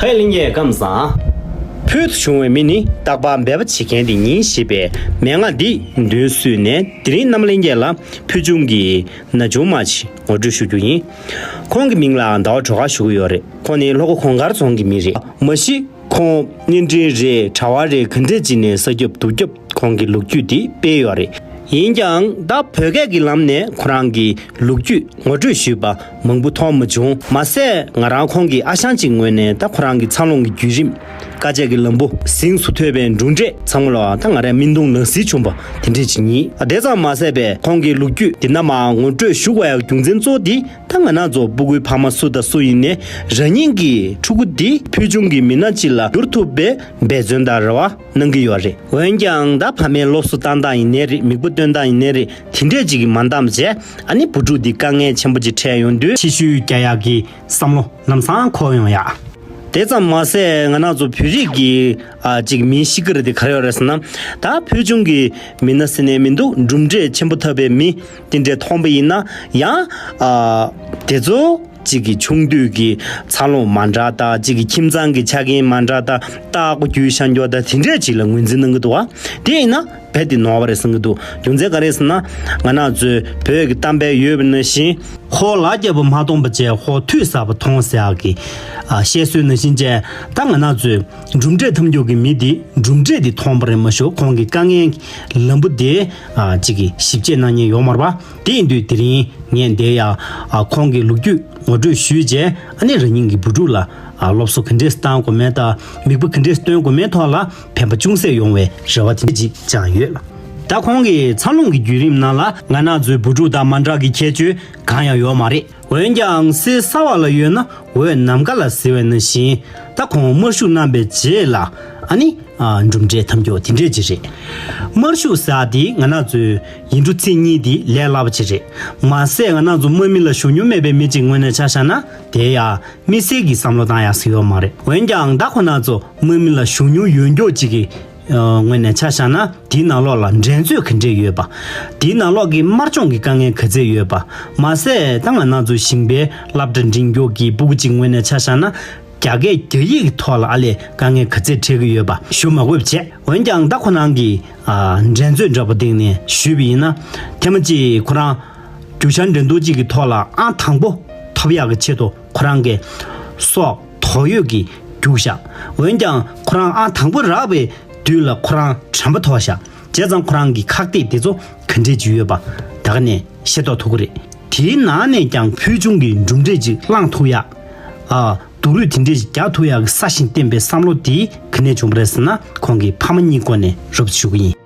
ཧའེ་གླིང་རྒྱལ་ཁམས་བཟང། ཕུལ་དུ་བྱུང་བའི་མི་ནི་རྟག་པར་འབད་པ་བྱེད་མཁན་དེ་ཉིད་ཞེས་པའི་མན་ངག་འདི་མདུན་བསུས་ནས་དེ་རིང་གནམ་གླིང་རྒྱལ་ལ་ཕུལ་བྱུང་གི་ན་ཆུང་མ་ཞིག་ངོ་སྤྲོད་ཞུ་རྒྱུ་ཡིན། ཁོང་གི་མིང་ལའང་ཟླ་བ་གྲོ་ག་ཞུ་གི་ཡོད་རེད། ཁོང་ནི་ལྷོ་ཁ་གོང་དཀར་རྫོང་གི་མི་རེད། མ་གཞི་ཁོང་བརྙན་འཕྲིན་རེད་གྲྭ་བ་རེད་ག་འདྲས་ཅིག་ནས་ས་སྐྱོབ་དུག་སྐྱོབ། ཁོང་གི་ལུགས་རྒྱུད་འདི་སྤེལ་ཡོད་རེད། ཡིན་ཀྱང་ད་བོད་སྐད་ཀྱི་ལམ་ནས་ཁོ་རང་གི་ལུགས་རྒྱུད་ངོ་སྤྲོད་ཞུས་པ་མང་པོ་མཐོང་མ་བྱུང། མ་ཟད་ང་རང་ཁོང་གི་ཨ་ཞང་གཅིག་ངོས་ནས་ད་ཁོ་རང་གི་འཚར་ལོངས་ཀྱི་བརྒྱུད་རིམ། དཀའ་སྤྱད་ཀྱི་ལམ་བུ། གཟེངས་སུ་ཐོད་པའི་འབྲུ་འབྲས་ཚང་མ་ལ་ད་ང་རང་སྨིན་གདུང་ནང་བསིལ་བྱུང་པ་དེ་འདྲས་ཅིག་ཡིན། དེ་ཙམ་མ་ཟད་པས་ཁོང་གི་ལུགས་རྒྱུད་འདི་ནམ་མང་ངོ་སྤྲོད་ཞུ་བའི་རྒྱུ་མཚན་གཙོ་བོ་འདི་ད་ང་ནག་རྫོགས་སྤུ་གུའི་ཕ་མ་སུ་དང་སུ་ཡིན་ནས་རང་ཉིད་ཀྱི་ཕྲུ་གུ་འདི་ཕུལ་བྱུང་གི་མི་སྣ་གཅིག་ལ་བསྒྱུར་ཐུབ་པའི་འབད་བརྩོན་དང་རེ་བ། གནང་གི་ཡོད་རེད། འོན་ཀྱང་ད་ཕ་མའི་སློབ་གསོ་བཏང་སྟངས་ཡིན་ནའི་རེད་མིག་པོ་བཏོན་སྟངས་ཡིན་ནའི་རེད་དེ་འདྲས་ཅིག་གིས་མ་འདང་བྱས་ཨ་ནེ་བུ་ཕྲུག་འདི་དཀའ་ངལ་ཆེན་པོ་ཅིག་འཕྲད་ཡོང་དུས། ཕྱི་ཤུལ་རྒྱ་ཡག་གི་བསམ་བློ་ལམ་སང་འཁོར་ཡོང་ཡག། དེ་ཙམ་མ་ཟད་ང་ནག་ཚོ་བོད་རིགས་ཀྱི་ཅིག་མིའི་གཤིས་ཀར་དེ་གར་ཡོད་རེད་ཟེར་ན། ད་ཕུལ་བྱུང་གི་མི་སྣ་ཟེར་ནས་མི་འདུག་གྲུབ་འབྲས་ཆེན་པོ་ཐོབ་པའི་མི་དེ་འདྲས་མཐོང་པ་ཡིན་ན་ཡང། དེ་ཚོ། གཅིག་གི་ཆུང་དུས་ཀྱི་འཚར་ལོངས་མ་འདྲ་ལྟ་གཅིག་གི་ཁྱིམ་ཚང་གི་ཆ་རྐྱེན་མ་འདྲ་ལྟ་སྟག་སྒོ་རྒྱུའི་ཤ་འགྱོགས་ལྟ་དེ་འདྲས་ཅིག་ལ་ངོས་འཛིན་གནང་གི་འདུག་དེ་ཡིན་ན་རྦད་དེ་ནོར་བ་རེད་བསམ་གྱི་འདུག་རྒྱུ་མཚན་ག་རེ་ཟེར་ན། ང་ནག་ཚོས་བོད་ཀྱི་གཏམ་དཔེ་ཡོད་པ་ནང་བཞིན། ཧོ་ལག་བརྒྱ་པོ་མ་སྟོང་པ་བཅས་ཧོ་ཐུགས་ཟབ་པ་ཐོང་ཟེར་ཡག་གི། བཤད་སྲོལ་ནང་བཞིན་བཅས་ད་ང་ནག་ཚོས་གྲུབ་འབྲས་ཐམས་འགྱུར་གྱི་མི་དེ་གྲུབ་འབྲས་དེ་ཐོང་པ་རེད་མ་ཞུ་གོང་གི་དཀའ་ངལ་གྱི་ལམ་བུ་དེ་གཅིག་གི་ཞིབ་དཔྱད་གནང་ཉེན་ཡོག་མར་བ། དེ་ཡིན་དུས་དེ་རིང་ངས་འདས་ཡ་ཁོང་གི་ལུག་རྒྱུད་ངོ་སྤྲོད་ཞུས་རྗེས་ཨ་ནེ་རང་ཉིད་ཀྱི་བུ་ཕྲུག་ལ་སློབ་གསོ་ག་འདྲས་བཏང་དགོས་མིན་དང་མིག་དཔེ་ག་འདྲས་སྟོན་དགོས་མིན་ཐོག་ལ་ཕན་པ་ཅུང་ཟད་ཡོང་བའི་རེ་བ་དེ་འཇིག་ཀྱང་ཡོད། ད་ཁོང་གི་འཚར་ལོངས་ཀྱི་བརྒྱུད་རིམ་ནང་ལ་ང་ནག་ཚོའི་བུ་ཕྲུག་དང་མ་འདྲ་གི་ཁྱད་ཆོས་གང་ཡང་ཡོད་མ་རེད། འོན་ཀྱང་གསེར་ས་བ་ལ་ཡོད་ན་འོད་ནམ་མཁའ་ལ་ཟེར་བས་ན་བཞིན་ད་ཁོང་དམར་ཤུགས་བསྣམས་པའི་རྗེས་ལ་ཨ་ནི། གྲུབ་འབྲས་ཐམས་ཀྱོག་དེ་འདྲས་ཅིག་རེད། དམར་ཤུགས་ཟེར་དེ་ང་ནག་ཚོས་ཡིན་འགྲོ་ཚིག་གཉིས་དེ་ལས་སླ་བ་ཅིག་རེད་མ་ཟད་ང་ནག་ཚོ་དམག་མི་ལ་ཞུ་སྙོ་མེད་པའི་མི་ཅིག་ངོས་ནས་ཆ་བཞག་ན་དེ་ཡང་དམིགས་བསལ་གྱི་བསམ་བློ་བཏང་ཡག་ཟིག་ཡོག་མ་རེད་འོན་ཀྱང་ད་ཁོ་ནག་ཚོ་དམག་མི་ལ་ཞུ་སྙོ་ཡོད་མགྱོགས་ཅིག་གི་ངོས་ནས་ཆ་བཞག་ན་དེའི་ནང་ལོགས་ལ་འགྲན་རྩོད་ག་འདྲས་ཡོད་པ། དེའི་ནང་ལོགས་ཀྱི་དམར་སྤྱོང་གི་དཀའ་ངལ་ག་ཚད་ཡོད་པ། མ་ཟད་ཏང་ཨ་ན་ཚོ་ཞིང་པའི་རླབས་སྒྲ་འབྲིང་མགྱོགས་ཀྱི་སྤུ་གུ་གཅིག་ངོས་ནས་ཆ་བཞག་ན། རྒྱ་སྐད་རྒྱ་ཡིག་གི་ཐོག་ལ་ཨ་ལས་དཀའ་ངལ་ག་ཚད་འཕྲད་ཀྱི་ཡོད་པ་ཞུ་མ་དགོས་པ་བྱས། འོན་ཀྱང་ད་ཁོ་རང་གིས་འགྲན་རྩོད་འདྲ་པོ་སྟེང་ནས་ཞུས་པ་ཡིན་ན། ཐེངས་མ་གཅིག་ཁོ་རང་རྒྱུ་ཆ་འགྲན་བསྡུར་གཅིག་གི་ཐོག་ལ་ཨང་དང་པོ་ཐོབ་ཡག་གི་ཆེད་དུ་ཁོ་རང་གིས། སོགས། དོགས་ཡོད་ཀྱི་རྒྱུག་བཞག་འོན་ཀྱང་ཁོ་རང་ཨང་དང་པོ་རག་པའི་དུས་ལ་ཁོ་རང་དྲན་པ་ཐོག་བཞག་བྱས་ཙང་ཁོ་རང་གི་ཁག་ཐེག་དེ་ཚོ་ག་འདྲས་ཅིག་ཡོད་པ་ད་ག་ནས་ཤེས་རྟོགས་ཐུབ་ཀི་རེད་དེའི་ནང་ནས་ཀྱང་ཕུལ་བྱུང་གི་གྲུབ་འབྲས་ཅིག་བླངས་ཐུག་ཡག་ཨ་སྡུག་རུས་དེ་འདྲས་ཅིག་རྒྱག་ཐུག་ཡག་གི་ས་ཞིང་བསྟེན་པའི་བསམ་བློ་དེ་ག་ནས་བྱུང་པ་རེད་ཟེར་ན་ཁོང་གི་ཕ་མ་གཉིས་སྐོར་ནས་རུབ་ཏུ་ཞུགས་ཀི་ཡིན།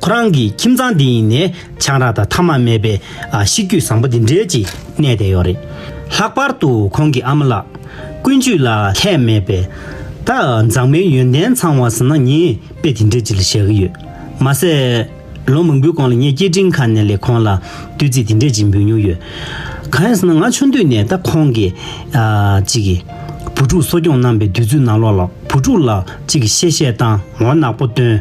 ཁོ་རང་གི་ཁྱིམ་ཚང་འདི་ཡིན་ནས་ཆང་རག་དང་ཐ་མ་མེད་པའི་གཤིས་རྒྱུད་བཟང་པོ་འདི་འདྲའི་ཅིག་གནས་བསྡད་ཡོད་རེད། ལྷག་པར་དུ་ཁོང་གི་ཨ་མ་ལགས། ཀུན་སྤྱོད་ལ་ལྷད་མེད་པའི། ད་མཛངས་མའི་ཡོན་ཏན་ཚང་བ་ཟིན་ན་ངས་དཔེ་དེ་འདྲའི་ཅིག་ལ་བཞག་གི་ཡོད། མ་ཟད། ལོ་མང་པོའི་གོང་ལ་ངས་སྐད་འཕྲིན་ཁང་ནས་ལས་ཁོང་ལ་བསྟོད་ཚིག་དེ་འདྲའི་ཅིག་འབུལ་མྱོང་ཡོད། གང་ཡིན་ཟེར་ན་ང་ཆུང་དུས་ནས་ད་ཁོང་གི། ཅིག་གི། བུ་ཕྲུག་གསོ་སྐྱོང་གནང་པའི་དུས་ཚོད་ནང་ལོགས་ལ་བུ་ཕྲུག་ལ་ཅིག་གི་གཤེ་གཤེ་དང་ངོ་གནག་པོ་སྟོན།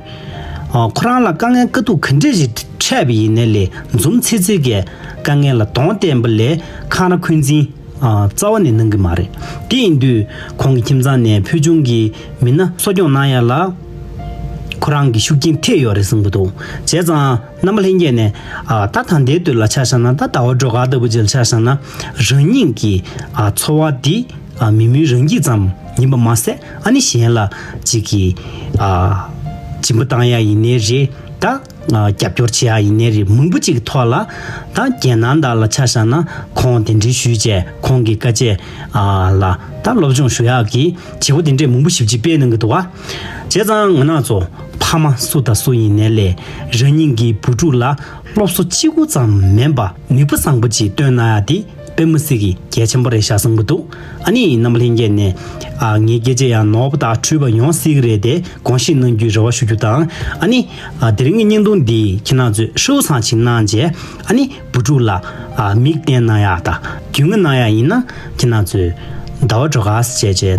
ཁོ་རང་ལ་དཀའ་ངལ་དཀའ་སྡུག་ག་འདྲས་ཞིག་འཕྲད་པ་ཡིན་ནའི་ལས་འཛོམས་ཚེ་ཚེ་གས་དཀའ་ངལ་ལ་གདོང་བསྟན་པ་ལས་འཁང་ར་འཁོན་འཛིན་རྩ་བ་ནས་གནང་གི་མ་རེད། དེ་ཡིན་དུས་ཁོང་གི་ཁྱིམ་ཚང་ནས་ཕུལ་བྱུང་གི་མི་སྣ་གསོ་སྐྱོང་གནང་ཡ་ལ་ཁོ་རང་གི་ཤུགས་རྐྱེན་ཐེབས་ཡོད་རེད་གསུངས་གི་འདུག་བྱས་ཙང། རྣམ་པ་ལྷན་སྐྱེས་ནས། ད་དང་དེའི་དུས་ལ་ཆ་བཞག་ན་ད་ལྟ་བ་སྒྲོ་ག་ལྟ་བུ་ཅིག་ལ་ཆ་བཞག་ན། རང་ཉིད་ཀྱི་འཚོ་བ་འདི་མི་མིན་རང་སྐྱིད་ཙམ་ཡིན་པ་མ་ཟད་ཨ་ནི་གཞན་ལ་ཅིག་གིས་སྦྱིན་པ་གཏང་ཡ་ཡིན་ནའི་རེད་ད། རྒྱབ་སྐྱོར་བྱེད་ཡ་ཡིན་ནའི་རེད་མང་པོ་ཅིག་གི་ཐོག་ལ། ད་རྒྱལ་ནང་དག་ལ་ཆ་བཞག་ན་ཁོང་དེ་འདྲའི་ཞུས་བྱས་ཁོང་གི་དཀའ་སྤྱད་ལ་ད་སློབ་སྦྱོང་ཞུ་ཡག་གི་བྱེད་སྒོ་དེ་འདྲས་མང་པོ་ཞིབ་ཅིག་སྤེལ་གནང་གི་འདུག་བ། བྱས་ཙང་ང་ནག་ཚོ་ཕ་མ་སུ་དང་སུ་ཡིན་ནས་ལས་རང་ཉིད་ཀྱི་བུ་ཕྲུག་ལ་སློབ་གསོ་གཅིག་པུ་ཙམ་མིན་པ་ནུས་པ་བཟང་པོ་ཅིག་སྟོན་ན་ཡག་དེ་དཔེ་མི་སྲིད་གི་རྒྱལ་ཆེན་པོ་རེད་ཤག་བཟང་པོ་འདུག་ཨ་ནི་ནམ་ལྷན་རྒྱས་ནས་ངའི་སྐད་ཆས་ཡང་ནོར་བ་དག་འཁྲུལ་བ་ཡོང་སྲིད་གི་རེད་དེ་དགོངས་བཞེས་གནང་རྒྱུའི་རེ་བ་ཞུ་རྒྱུ་དང་ཨ་ནི་དེ་རིང་གི་བརྙན་ཐུང་འདི་ཁྱེད་ནག་ཚོས་ཧྲིལ་བོ་བཟང་ཞིག་གནང་རྗེས་ཨ་ནི་བུ་ཕྲུག་ལ་མིག་བསྟན་གནང་ཡག་དང་རྒྱུས་མངའ་གནང་ཡག་ཡིན་ན་ཁྱེད་ནག་ཚོས་ཟླ་བ་གྲོ་ག་བཅས་བཅས་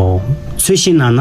ཚོད་ཤེས་གནང་ན།